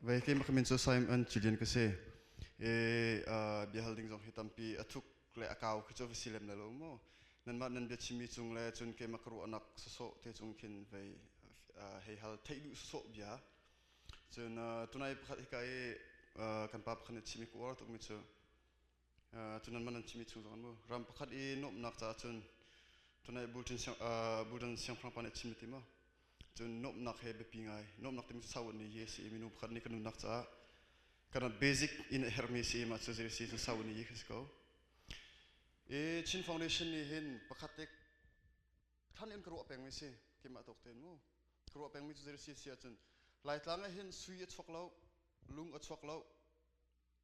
Ve keimah ka min cu Simon Julian ka si. E bia hal ding zong hi tampi a thuk le a kau khi cu va si lem na lo mu. Nanmah nan bia chimi chung le cun keimah ka ruahnak sosawh te chung khin vei hei hal theih duh sosawh bia. Cun tunai pakhat hika i kan pa pakhat nih chimi ku uar tukmi cu Cunan man an cimi chung zong an mu. Ram pakhat i nuamhnak caah cun tunai Budan siangpahrang pa nih a chim ti maw? Cun nuamhnak he biapi ngai. Nuamhnak timi sawut ni hi a si i minu pakhat nih kan nunnak caah kan basic in a herhmi si ma cu zei si cu sawut ni kan si ko. I Chin Foundation nih hin pakhat te thlan in ka ruah pengmi si keimah tok tein mu. Ka ruah pengmi cu zei si si ahcun Laitlang ah hin sui a chuak lo, lung a chuak lo,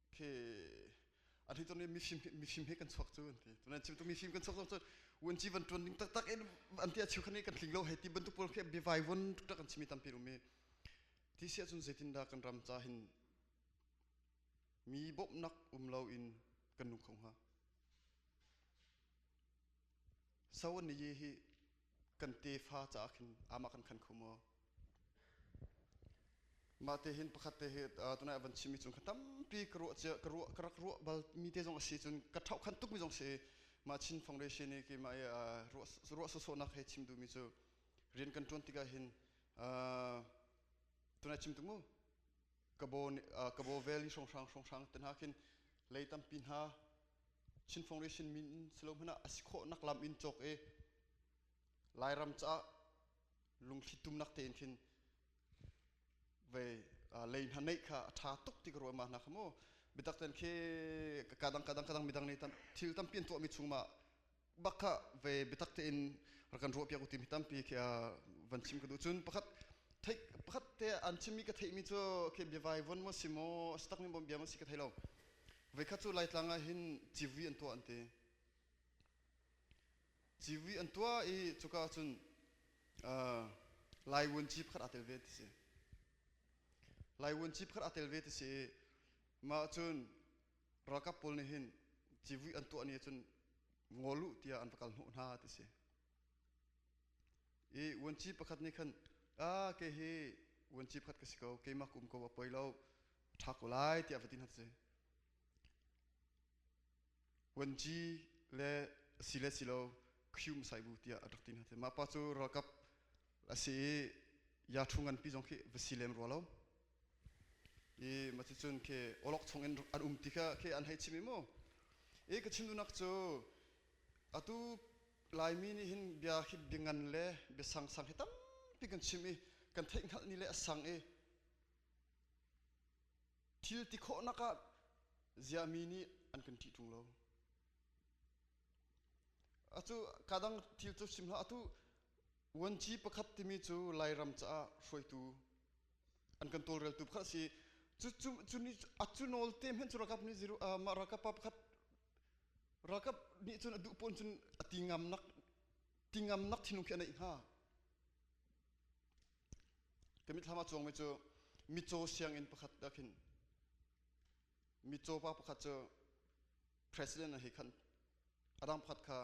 Okay. A ri tuni mifim mifim he kan chuak cu an ti. Tuna chim tu mifim kan chuak zo cun wan chi van tuan ding tak tak en an ti a chiu khani kan tling lo he ti bantuk pol khi bi vai von tuk kan chimi tampi rumi. Ti sia cun zeitin da kan ram cha hin mi bop nak um lo in kan nu khong ha. Sau ni ye hi kan te fa cha khin ama kan khan khumo Mah te hin pakhat te hi tuna a van chimmi cun kha tampi ka ruah cia ka ruah ka rak ruah bal mi te zong a si cun ka ṭhauh khan tuk mi zong si mah Chin Foundation i keimah i ruah ruah sawhsawhnak he chim duhmi cu rian kan ṭuan tikah hin tunai chim tuk mu Kabaw Kabaw Valley hrawnghrang hrawnghrang te hna khin lei tampi hna Chin Foundation min in si lo hmanh ah a si khawh nak lam in cawk i Lairam caah lungthli tumnak tein khin ve lei hna neih kha a ṭha tuk ti ka ruah ma hna kha mu biatak ten khi kadang kadang kadang midang nih thil tampi an tuahmi chung ma bak kha ve biatak tein rak kan ruah piak u timi tampi khi van chim ka duh cun pakhat theih pakhat te an chimmi ka theihmi cu khi bia vai von mo si mo stak ni bom bia mo si ka thei lo ve kha cu laitlang ah hin civi an tuah an ti Civi an tuah i cuka ah cun Lai vuanci pakhat aa tel ve ti si. Lai vuanci pakhat aa tel ve ti si i mah cun ralkap pawl nih hin civi an tuah ni cun ngol u tiah an va kal hnawh hna ti si. I vuanci pakhat nih khan a ke hi vuanci pakhat ka si ko keimah ka um ko a poi lo ṭha ko lai tiah va ti hna ti si. Vuanci le si le si lo khium sai bu tiah a rak ti hna te. Mah pa cu ralkap a si i ya thu ngan pi zong khi va si lem rua lo. I ma ti cun ke olok chung in an um ti kha ke an hei chim i mu. I ka chimdunak cu atu laimi nih hin bia hi bingan le bia sangsang hi tampi kan chim i kan theih ngalh ni le a sang i Thil ti khawhnak ah ziami nih an kan ṭih ṭung lo. Atu kadang thil cu sim hlah, atu vuanci pakhat timi cu Lairam caah hruaitu an kan tawlreltu pakhat a si. a cu nawl te hmanh cu ralkap nih ziru, uh, mah ralkap pa pakhat ralkap nih cun a duh pawn cun a ti ngamnak ti ngamnak thinlung khi a neih hna. Ka mitthlam a cuangmi cu mitcaw sianginn pakhat ah khin mitcaw pa pakhat cu president a hi khan a dang pakhat kha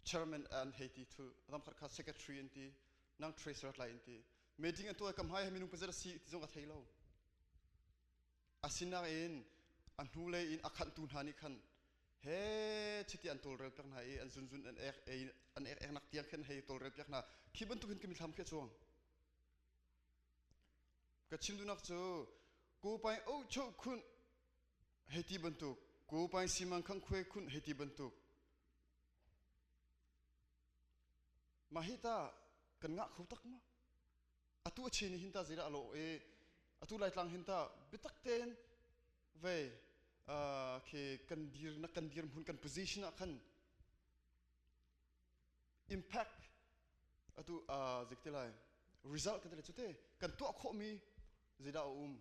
chairman an hei ti thu a dang pakhat kha secretary an ti nang treasurer lai an ti meeting a tuah ka hmai hi minung pazet a si ti zong ka thei lo Asinain a hnulei in a khanhtu hna nih khan he chiti an tawlrel piak hna i an zunzun an ek an ek eknak tiang khan hei tawlrel piak hna khi bantuk hin ka mithlam khi a cuang ka chim dunak cu kupai ocho khun hei ti bantuk kupai simang khang khuai khun hei ti bantuk ma hi ta kan ngah kho tak ma atu a chin hin ta zira alo e atu lai tlang hin ta bitak ten ve ke kan dir na kan dir mun kan position a khan impact atu a zikte lai result kan tele chute kan to kho mi zida um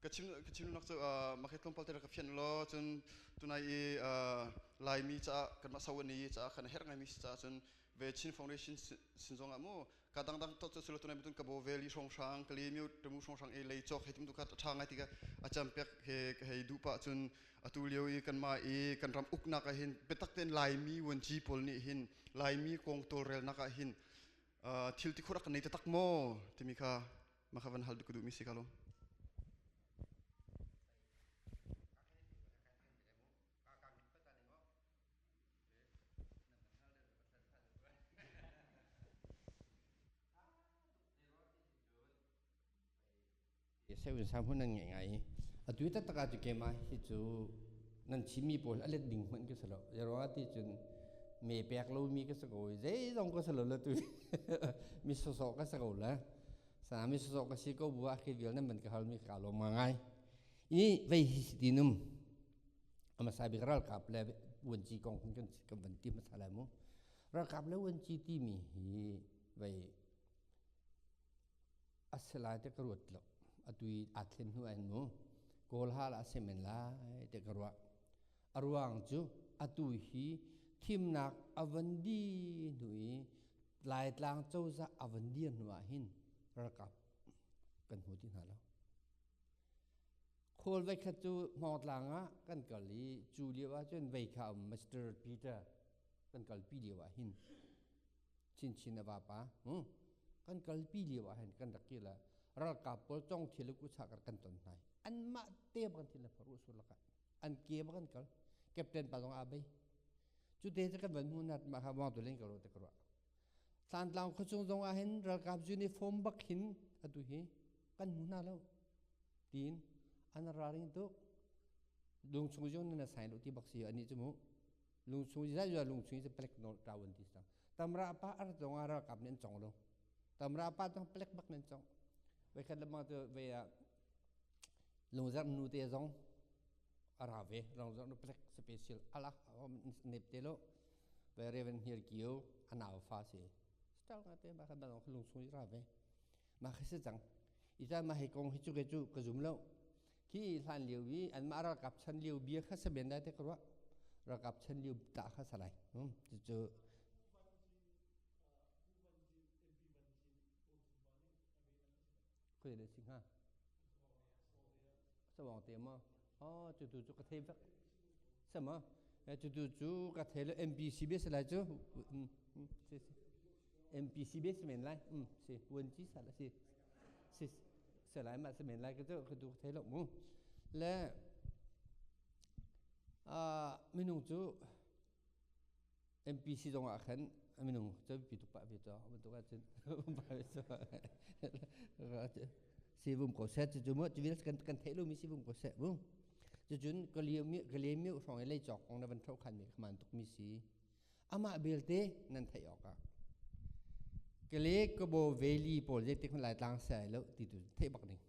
ka chim nak cu make tlawmpal te ka fian lo cun tunai i laimi caah kanmah sawani caah kan her ngai mi si caah cun ve Chin Foundation sin zong ah mu ka dangdang tot cu tunai butun ka bo ve li hrong hrang ka li miu temu hrong hrang e lei chok hei tum tu ka tha ngai tiga a champek he hei du pa cun atu lio i kan ma i kan ram uk nak ah hin betak ten laimi wan ji pol ni hin laimi kong tol rel nak ah hin thil ti khurak nei ta tak mo timi kha Maka van hal ka duh mi si ka lo. Seun sam hun ngai ngai atu ta taka chu ke ma hi chu nan chi mi pol alet ding hun ke salo yaro ti chun me pek lo mi ke sa ko zai dong ko salo la tu mi so so ka sa ko la sana mi sosok ka si ko bu ah khi vial nan ban ka hal mi ka lo ma ngai i vei hi dinum ama sai bik ral kap le wan chi kong kan kan van ti ma sa la mu ral kap le wan chi ti mi hi vei aselai te ka ruat lo atui athen hu an mu kol hal asemen lai te ka ruak A ruang cu atu hi thimnak a van di hnu i Laitlang cozah a van dir hnu ah hin ralkap kan hmu ti hna lo. Khawl veikhat cu Hmawtlang ah kan kal i cu lio ah cun veikha um Mr. Peter kan kalpi lio ah hin chinchin a vapa hmm, kan kalpi lio ah hin kan rak kil ah ralkap pawl cong thil ku chak kan ton hnai anmah te bang thil na pharu sul lakah an ke ma kan kal captain pa long a bei cu te te kan van mu nat ma kha wang to len ko ro te ko tan tlang kho chung zong a hin ralkap uniform bak hin atu hi kan mu na lo tin an raring tuk lung chung jong na sign lo ti bak si ani chu mu lung chung ji za lung chung ji black no tawan ti sam tamra pa ar zong a ralkap nen chong lo tamra pa tang black bak nen chong ve khat lama to ve Lungzarh nu te zong a ra ve. Lungzarh nu plek special ala nep te lo. Ve reven hir kio anau fa si. Stal ka te ba ka dal lung sui ra ve. Ma kha se chang. Ita ma he kong hi chu ke chu ka zum lo. Ki hlan liu vi an ma ra kap chan liu bia kha se ben da te karwa. Ra kap chan liu ta kha salai. Hmm. Chu khui na si hnga sawang te ma a tu tu chu ka thei vek sama tu tu chu ka thei lo MPC base lai chu si si MPC base men lai si wan chi sa la si si se lai ma se men lai ka chu ka du thei lo mu le a minung chu MPC zong ah khan a minung cabipi tuk pah ve caw bantuk ah cun sivum ko set cu mu civil kan kan thei lo mi sivum ko set bu cucun kaliamio hrong lei cawk kong na van tho khan mi khaman tuk mi si amah belte nan thei ok a kale kabo veli pawl je tik lai tlang sai lo ti tu thei bak ning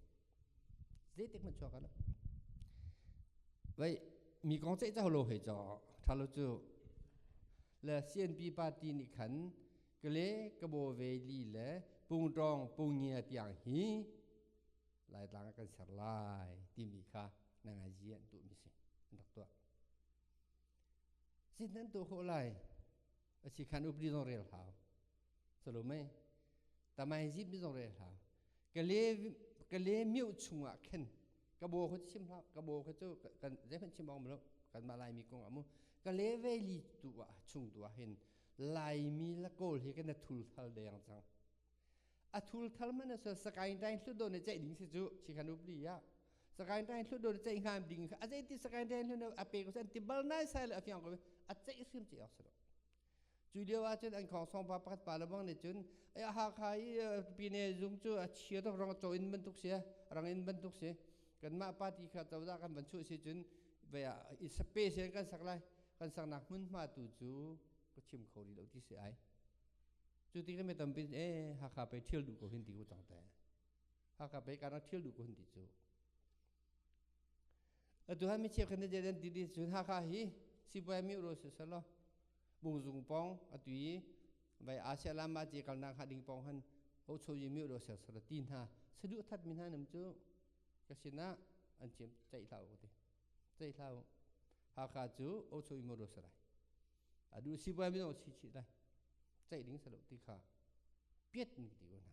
zeitik man chuak kan vậy mi kong chạy cho lo hay cho thalo chu là CNP party ni khan kle kabo ve li le pung trong pung ngia tiang hi lai tlang kan ser lai ti mi kha na ngai jian tu mi si nak to sin nan tu ho lai a si khan upri zong rel hao salome tamai zip mi zore hla kale kale miu chungah khen kabo kho sim hla kabo kho chu kan zephon chim bawm lo kan ma lai mi kong amu kale veli tu wa chung tu hin lai mi la kol hi kan thul thal deng chang a thul thal man so sakain tain hlu do ne chai ding se chu chi khan up li ya sakain tain hlu do ne chai ngam ding a chai ti sakain tain hlu a pe ko san ti bal nai sai la afyang ko a chai sim chai ok Cu lio ah cun an khawng sawngpa pakhat pa le bang nih cun ai a Hakha i pine zung cu a chia tuk rang caw in bantuk si rang in bantuk si kanmah party kha cozah kan van chuh si cun vei ah i sape si kan sak lai kan saknak hmunhma tu cu ka chim kho rih lo ti si ai cu ti le me tampi eh Hakha pe thil duh ko hin ti ko cang te Hakha pe karnak thil duh ko hin ti cu atuhan mi chiap candidate an dili cun hakha hi sipuai mi ro si salo bung zung pong atui bai asia lama ti kalnak ha ding pong han ho cho yi mi ro ser sala ti hna sadu that mi hna nam chu kasina an chim chai thau ti chai thau hakha chu o cho yi mo ro sarai adu sipuai mi no si chi lai chai ding salo ti kha piet ni ti ko na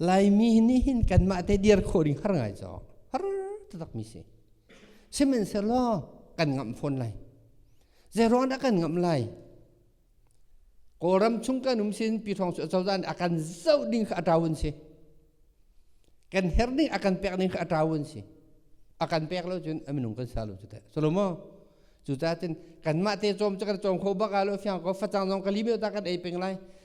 Laimi nih hin kanmah te dir khawh ding har ngai caw har taktak mi si sihmanhsehlaw kan ngamh fawn lai zeiruang dah kan ngamh lai kawlram chung kan um sin pi thawng cu cozah nih a kan zoh ding kha a tau an si kan her ding a kan pek ding kha a tau an si a kan pek lo cun a minung kan sa lo cu teh solomo cuta tin kanmah te cawm cu kan cawm kho baka lo fiang ko facang zong ka li meo ta kan ei peng lai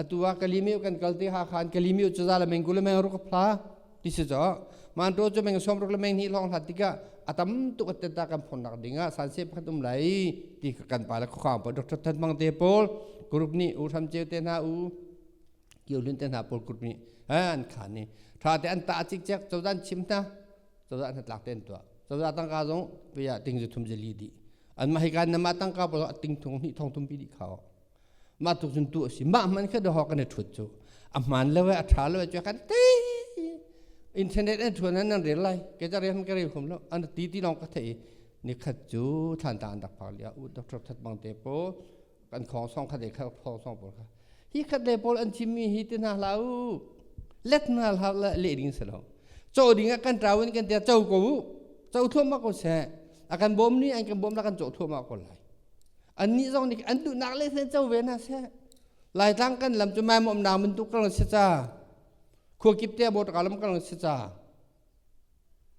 atu ah kalimio kan kal te ha khan kalimio cu za la meng gule meng ruk phla ti si jo man to chu meng som ruk le meng ni long hlat tika atam tu katten ta kan phon nak dingah san se phat um lai ti kan pa la khokhang pa doctor than mang te pol group ni u tham cheu te na u kiu lun te na pol group ni an khan ni tha te an ta chik chek chawdan chim ta chawdan hat lak ten tua chawdan tang ka zong pe ya ting zu thum jeli di an ma hi kan na ma tang ka po ting thung ni thong thum pi di khao mah tuk cun tu a si mah man kha dawh kan i thut cu a hmaan lo a tha lo cu kan ti internet an thuan an rel lai ke za riam ke reu khom lo an ti ti long ka thei ni khat cu than ta an dak phar lia u doctor that bang te po kan khong song kha de kha phong song por kha hi khat le pol an chimmi hi tin ha la u let na la la le ding selo cho ding a kan trawin kan te cho ko u cho thuam ma ko se akan bom ni an kan bom la kan cho thuam ma ko lai annih zong nih an duhnak le hlen co ve hna seh laitlang kan lam cu maimawm nau mun tu kal lo si ca khua kip te bo taka lam kal lo si ca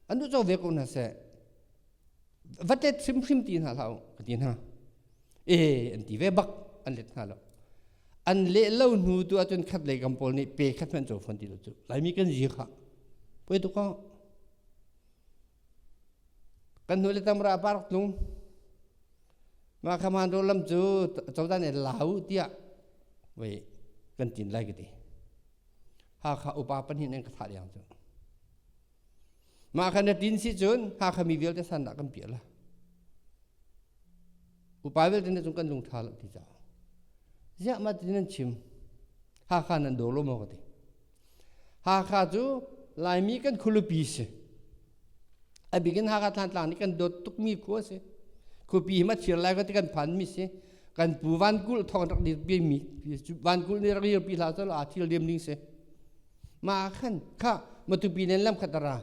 an duh co ve ko hna seh va tet hrimhrim ti hna hlah ka ti hna e an ti ve bak an let hna lo an leh lo hnu tu ahcun khat lei kam pawl nih pe khat hmanh co fon ti lo cu laimi kan zi kha poi tu ko Kan hnu le tamra a park tlung. Mah khaman ro lam cu codan in la u tiah vei kan tin lai ka ti. Hakha upa pahnih nan ka thah liang cu. Mah khan na tin si cun Hakha mi vialte sandah kan piah la. Upa vialte na cung kan lung ṭha lo ti caah. Ziah ma ti nan chim? Hakha nan dawr lo maw ka ti. Hakha cu Laimi kan khualupi si. A bik in Hakha Thlantlang nih kan dawt tukmi khu a si. Khuapi hi machir lai ko ti kan phanmi si. Kan pu Van Kulh thawng rak dir piangmi Van Kulh nih rak dirpi hlah cu aa thil diam ding si. Ma khan kha Matupi len lamkhat a ra.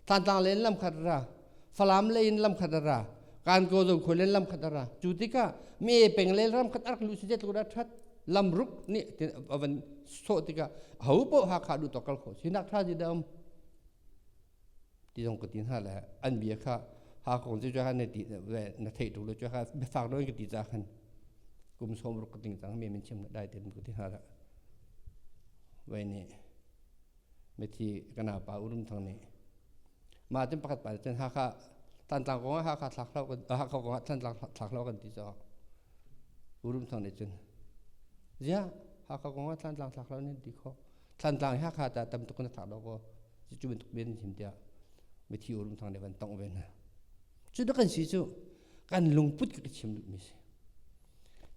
Thlantlang len lamkhat ra. Falam lei in lamkhat a ra kankaw zokhuai len lamkhat a ra cu tikah me peng le ramkhat a rak luh si tluk a that lamruk nih a van sawh tikah ho poh hakha duh to kal khawh si nak tha si da um ti zong ka ti hna le an bia kha ha kong cu ha na ti na thei tuk le cu ha biafak do in ka ti ca khan kum som ruk ka ting cang me men chim dai te ka ti hna la wei nih mithi ka naupa U Rum Thang nih mah tin pakhat pa nih cun Hakha Thantlang kong ah Hakha thlak hlah Hakha kong ah Thantlang thlak hlah kan ti caah U Rum Thang nih cun ziah Hakha kong ah Thantlang thlak hlah nan ti khawh Thantlang hi Hakha ta tam tuk na thak lo kaw cu bantuk bia nan him tiah mithi U Rum Thang nih van tongh ve hna cu da kan si cu kan lungput ka chim duhmi si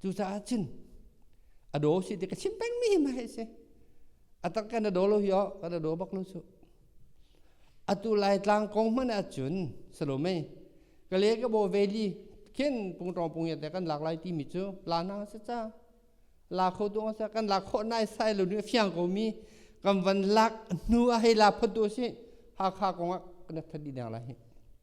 cucaah cun a daw si ti ka chim pengmi hi ma hi a si atak kan ado lo hi kan ado bak lo su atu laitlang kong hman ahcun salomei kale ka bo veli khin pung tong pung yate kan lak lai ti mi cu la na sa cha la kho tu sa kan la kho nai sai lo ni fiang ko mi kan van lak nu a hei la photu si hakha kong ah kan thadi dang la hi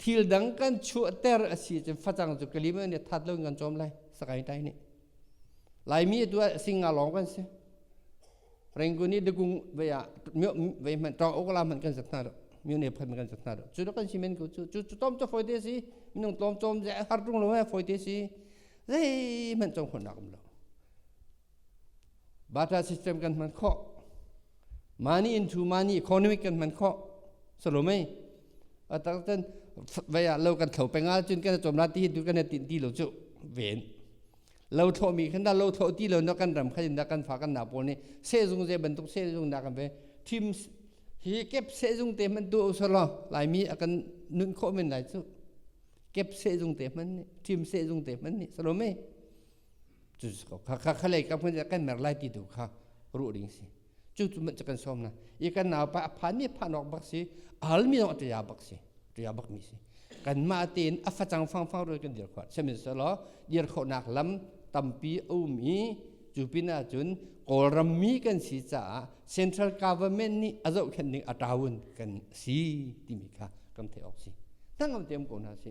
thil dang kan chuahter a si cun facang cu kalim in that lo in kan cawm lai sakai tai nih laimi tu ah singa lawng kan si rengku nih dukung vei ah vei hmanh tawng okala hmanh kan zat hna do myo ne phan kan zat hna do cu kan si men ku cu cu tom to foi te si minung tlom tlom je har tung lo he foi te si zei hmanh cong khon nak lo bata system kan hman kho mani in thu mani economic kan hman kho solomei Atang ten vei ah lo kan thlo pengal cun kan chom la ti tu kan tin ti lo cu ven lo thlo mi khan da lo thlo ti lo na kan ram kha na kan fa kan na pol ni se zung ze bantuk se zung na kan ve thim hi kep se zung te man tu usolo lai mi akan nun kho men lai chu kep se zung te man ni thim se zung te man ni salo me cu ko kha kha kha lei ka hmun kan mer lai ti tu kha ru ring si cu tu man kan som na i kan nau pa phan mi phan ok bak si al mi dong tia bak si tia bak mi si kan ma tin a fa chang fang fang ro kan dir khwa semen solo dir kho nak lam tampi umi cu pina cun kawlram mi kan si caah central government nih a zoh khen ning a tawun kan si ti mi kha kam thei ok si tangam tem ko na si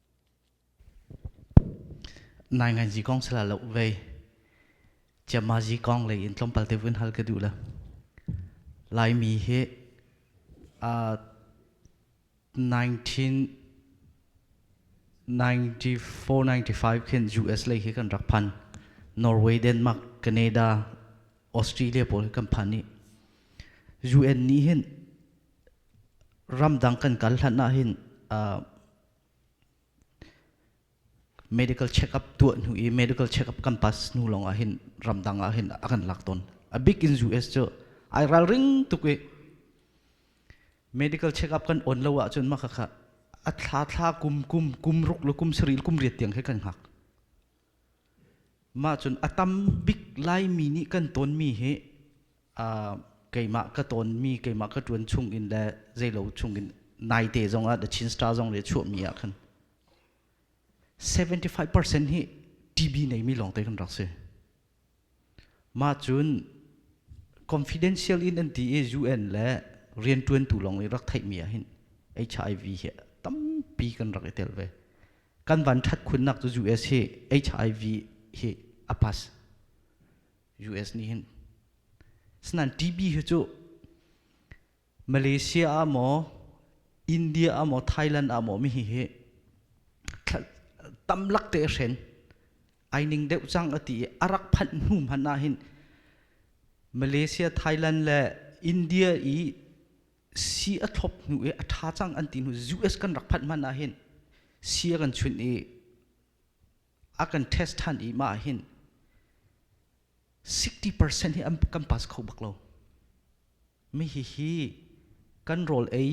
Nai nganzi kong sala lo vei. Ciamazi kong lei in tlawmpal te vun hal ka duh la. Laimi hi uh, 1994 95 khin US lei hi kan rak phan. Norway, Denmark, Canada, Australia pawl kan phan i UN nih hin ramdang kan kal hlan ah hin uh, medical check-up tuah hnu i medical check-up kan pass hnu lawng ah hin ramdang ah hin a kan lak tawn a bik in US cu ai ralring tuk i medical check-up kan on lo ahcun mah khakha a thla thla kum kum kum ruk le kum saril kum riat tiang khi kan hngak mah cun a tam bik laimi nih kan tawnmi hi keimah ka tonmi keimah ka ṭuan chungin le zeilo chungin naite zongah the Chin Star zong le chuahmi ah khan 75% hi TB neimi lawngte kan rak si mah cun confidential in an ti i UN le rianṭuantu lawng i rak theihmi ah hin HIV hi tampi kan rak i tel ve kan van ṭhat khunnak cu US hi HIV hi a pas US nih hin snan TB hi cu Malaysia ah maw India ah maw Thailand ah maw mi hi hi tam lak te hren ai ning deuh chang ati i arak phanh hnu hman ah hin Malaysia Thailand le India i si a thlop hnu i a tha chang an ti hnu US kan rak phanh hman ah hin si a kan chun i a kan test than i mah hin 60% hi kan pass kho bak lo mi hi hi kan rawl ei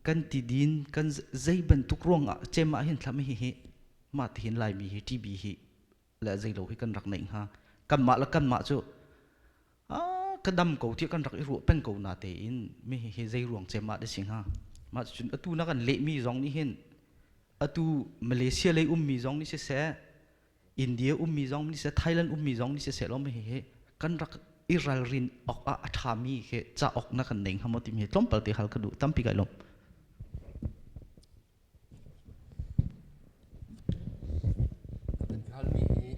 kan ti din kan zei bantuk ruang ah cem ah hin thlam hi hi mah ti hin laimi hi TB hi le zei lo hi kan rak nei hnga kan mah le kan mah cu ka dam ko tiah kan rak i ruah peng ko na tein mi hi hi zei ruang cem ah da si hnga mah cun atu na kan lehmi zong nih hin atu Malaysia lei ummi zong nih siseh India ummi zong nih siseh Thailand ummi zong nih siseh lom hi kan rak i ralrin awk ah a ṭhami khi cauk na kan nei hnga maw timi tlawmpal te hal ka duh tampi kai lom Nan halmi hi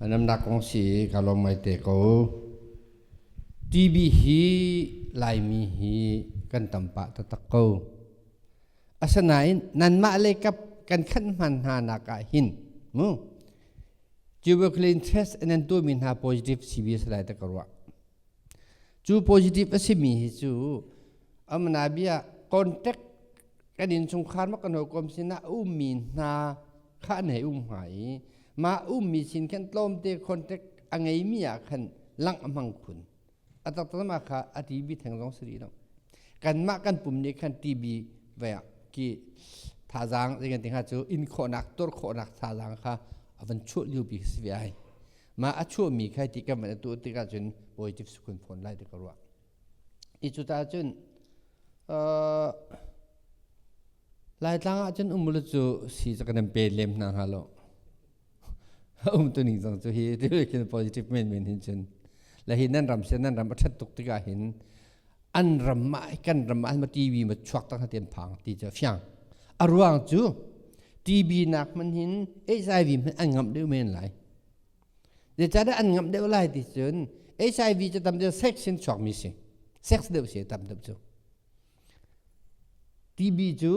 a namnak kong si i ka lawm ngai te ko. TV hi Laimi hi kan tam pah taktak ko. Asinain nanmah le kap kan khat hman hna nak ah hin mu tuberculosis nan tuahmi hna positive CBS lai ta ka ruah. Cu positive a simi hi cu amna bia contact kan innchungkhar ma kan hawikom sinah a ummi hna kha an hei um hnga i mah ummi sin khan tlawmte contact a ngeimi ah khan langh a hmang khun a taktakma kha a TV theng zong si rih lo kanmah kan pum nih khan TV vai ah ki thazaang zeikan ti hnga cu in khawhnak tur khawhnak thazaang kha a van chuah liopi si ve ai Mah a chuahmi kha ti kan van a tuah tikah cun Bawi Jeff su kun fawn lai ti ka ruah. Ti cu ta cun uh, Laitlang ah cun umul cu si ca kan pe lem hna hnga lo. um tu ning zong cu hi ti khin positive men men hin cun la hi nan ram sia nan ram a that tuk tikah hin an ram ah kan ram ah ma TV ma chuak tak hatian phang ti cu fiang a ruang cu TV nak man hin HIV man an ngam deuh men lai de cha da an ngam deuh lai ti cun HIV cu tam deuh sex in chuak mi si sex deuh si tam deuh cu TB cu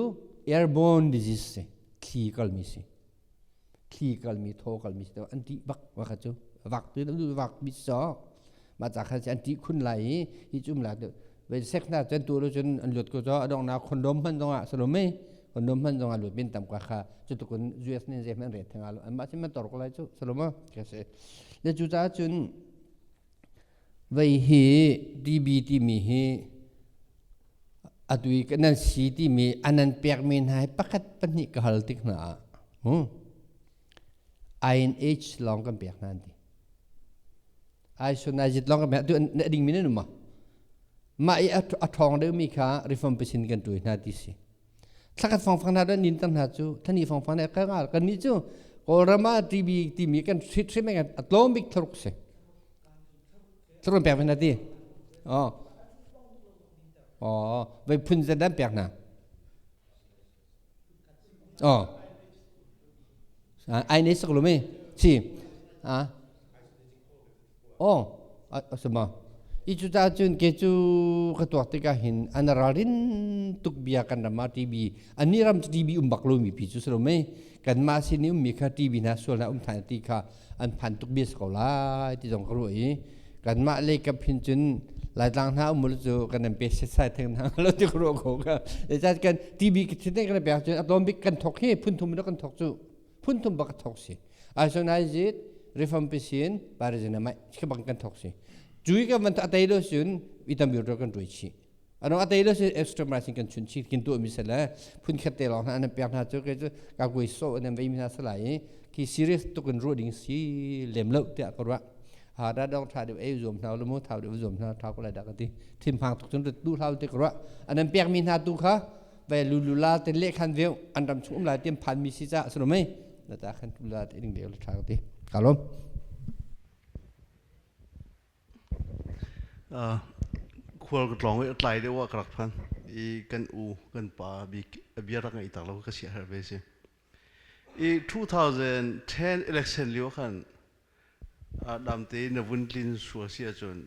airborne disease si thli kal mi si thli kalmi thaw kalmi si an tih bak vakhat cu vak tu nu vak mi so ma cha khan an tih khun lai i hi chum la tu ve sek na chen tu lu chun an lut ko cho adong na khondom man zonga salome khondom man zonga lut bin tam ka kha chu tukun US nin je man re thenga lu an ma sim ma tor ko lai chu saloma ke se le chu cha chun Vei hi DB timi hi atu i nan si timi a nan pekmi hna hi pakhat pahnih ka hal tik hna ah hmm, INH lawng kan pek hna an ti. Isonized lawng kan pek tu na ding mi nan um ma? Mah i a ṭhawng deuhmi kha reform pasin kan ṭuai hna ti si. thlakhat fangfang na dan nin tang hna cu thani fangfang na ka nga kan ni cu kawlram ah tv timi kan switch rim a tlawm bik tharuk si tharun pek na ti oh oh vai phun zan dan pek na oh ai nei sak lo mi si ah Aw, a si ma. I cuca cun ke cu ka tuak tikah hin ana ralrin tuk bia kan ram ah TV ani ram TV um bak lomi pi cu si lo mei kanmah sin i ummi kha TV hna sual na um than ti kha an phan tuk bia si ko lai ti zong ka ruah i kanmah leikap hin cun laitlang hna um lo cu kan pe set sai theng hna lo ti ka ruah ko ka e can kan TV ka thin kan pe cun atom bik kan thok hi phun thum lo kan thok cu phun thum bak thok si isonize it rifam pisin parazinamai khi bang kan thok si cui kan van ta tei lo sin vitamin ro kan roi chi ano atei lo se extra margin kan chun chi kin tu mi se la phun khet te long na nan per na chu ke chu ka goi so nan vei mi na sa lai ki serious tu kan ro ding si lem lo te ko wa ha da dong tha de ei zom na lu mu thau de zom na thau ko la da ka ti thim hang tuk chun tu hlau te ko wa anan per mi na tu kha ve lulula te le khan veu an ram chung um la tiam phan mi si cha suru mai la ta khan lulula te ning leu la tha ti kalom a khual ka tlong we tlai de wa krak phan i kan u kan pa bi bia rang i tak lo ka si har ve si i 2010 election liu khan a dam te na vun tlin su si achun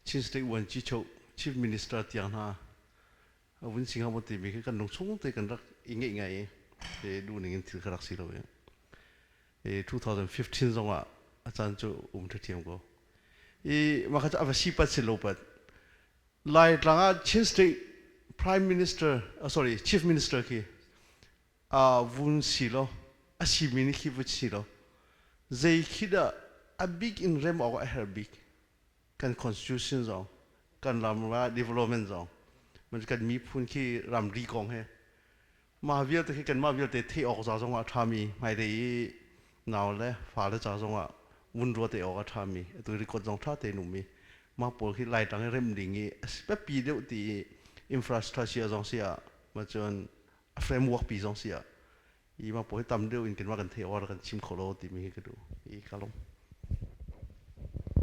chin state wan chi chau chief minister tiang na a vun si ngam timi khi kan lungchung te kan rak i ngeih ngai i e duh ning in thil ka rak si lo i e 2015 zong ah a caan cu um ṭha ṭhiam ko i mah kha a va si pat si lo pat laitlang ah Chin State Prime Minister oh sorry Chief Minister khi a vun si lo a simi ni khi vun si lo zei khi dah a bik in rem awk a herh bik Kan constitution zong, kan ram development zong, kan miphun khi ramri kong he mah vialte khi kanmah vialte theih awk ca zongah a ṭhami hmailei i nau le fale ca zongah vunruah te awk a ṭhami atu record zong ṭha tein um i mah pawl khi laitlang i remh ding i a biapi deuh ti i infrastructure zong si ah cun a framework pi zong si ah i mah pawl hi tam deuh in kanmah kan theih awk kan chim khawh lo timi hi ka duh i ka lung